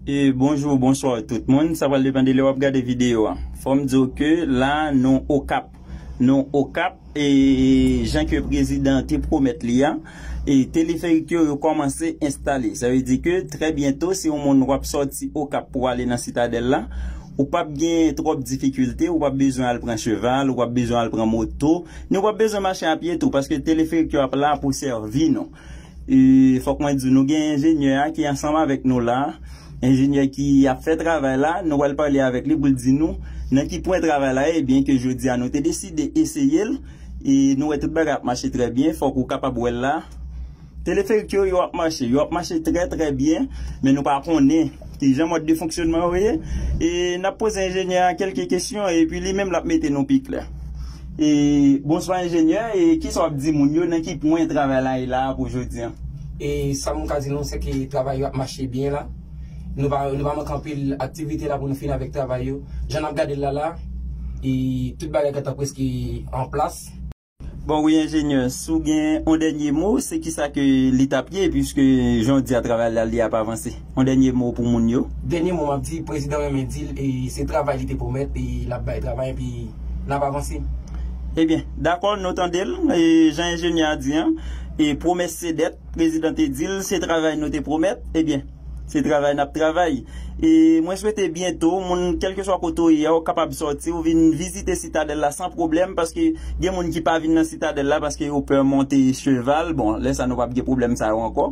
Bonjou bonswa tout moun sa pral depan de lè wap gade video a fòm diw ke la nou okap nou okap e jan ke prezidan te pwomèt li a e teleferik yo yo kòmanse enstale sa vle di ke trè byento si yon moun wap sòti okap pou ale nan sitadèl la ou pap gen twòp difikilte ou pap bezwen al pran cheval ou pap bezwen al pran moto ni ou pap bezwen mache apye tou paske teleferik yo ap la pou sèvi nou. E fòk mwen di nou gen enjenyè a ki ansanm avèk nou la, enjenyè ki ap fè travay la, nou pral pale avèk li pou l di nou nan ki pwen travay la ye, byen ke jodi a nou te deside eseye l e nou wè tout bagay ap mache trè byen, fòk ou kapab wè l la. Teleferik yo, yo ap mache, yo ap mache trè trè byen, men nou pa konnen E jan mòd de fonksyonman yo ye, e n ap poze enjenyè a kèlke kesyon e pi li menm l ap mete nou pi klè. E. Bonswa enjenyè, e kisa w ap di moun yo, nan ki pwen travay la ye la a pou jodi an? E sa m ka di nou se ke travay yo ap mache byen la. Nou pa nou pa manke anpil aktivite la pou nou fini avèk travay yo. Jan n ap gade l la la a, e tout bagay gentan prèske an plas. Bon wi enjenyè, si w gen yon dènye mo, se kisa ke li t ap ye puiske jan w di a travay la li ap avanse? Yon dènye mo pou moun yo? Dènye mo m ap di, prezidan renmen di l se travay li te pwomèt e l ap bay travay epi n ap avanse. Ebyen, dakò nou tande l, jan enjenyè a di an, pwomès se dèt, prezidan te di l se travay nou te pwomèt, ebyen. Se travay nap travay. E mwen swete byento moun kelkeswa kote ou ye a ou kapab sòti ou vin vizite sitadèl la san pwoblèm paske gen moun ki pa vin nan sitadèl la paske yo pè monte cheval bon lè sa nou pap gen pwoblèm sa yo ankò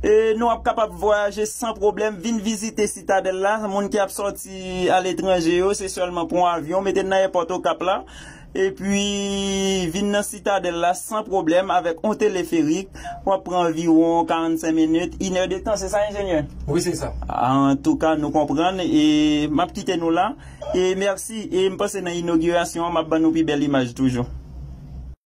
e nou ap kapab vwayaje san pwoblèm vin vizite sitadèl la moun ki ap sòti aletranje yo se sèlman pran avyon mete n nan èpòt okap la Epi, vin nan Sitadèl la san pwoblèm avèk on teleferik, w ap pran anviwon 45 minit, inè de tan, se sa enjenyè? Wi, se sa. Antouka, nou konprann e m ap kite nou la. E mèsi. E m panse nan inogirasyon an, m ap ban nou pi bèl imaj toujou.